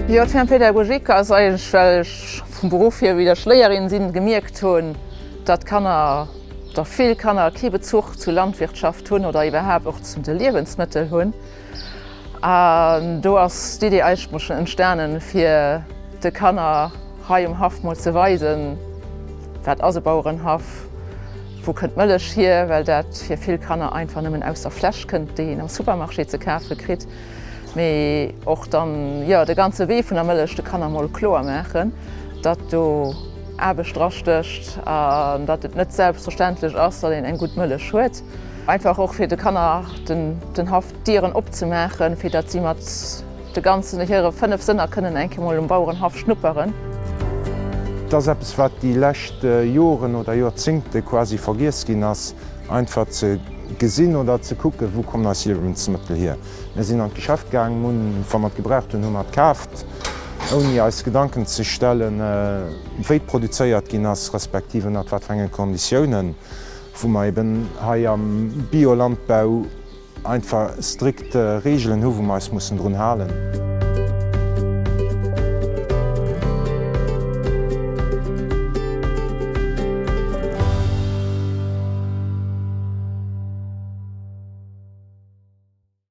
Jo, d'Firma Pédagogique ass eigentlech, well ech vum Beruff hier wieder Schléierin sinn, gemierkt hunn, datt d'Kanner, oder vill Kanner kee Bezuch zur Landwirtschaft hunn oder iwwerhaapt och zu de Liewensmëttel hunn. An do ass d'Idee eigentlech mol schonn entstanen, fir de Kanner hei um Haff mol ze weisen, wat ass e Bauerenhaff, wou kënnt d'Mëllech hier, well dat fir vill Kanner einfach nëmmen aus der Fläsch kënnt, déi een am Supermarché ze kafe kritt. Mee och dann, jo, de ganze Wee vun der Mëllech de Kanner mol kloer maachen, datt do Aarbecht drastécht an datt et net selbstverständlech ass, datt een eng gutt Mëllech huet. Einfach och fir de Kanner den Haff d'Dieren opzemaachen, fir datt si mat de ganzen hire 5 Sënner kënnen eng Kéier mol um Bauerenhaff schnupperen. Et ass eppes, wat déi lescht Joren oder Jorzéngte quasi vergiess ginn ass, einfach ze gesinn oder ze kucken, wou kommen eis Liewensmëttel hier. Mir sinn an d'Geschäft gaang, hunn, wa mer et gebraucht hunn, hu mer et kaaft, ouni eis Gedanken ze stellen, wéi produzéiert ginn ass, respektiv ënnert wat fir enge Konditiounen. Wou mer eben hei am Biolandbau einfach strikt Regeln hu wou mer eis mussen drun halen.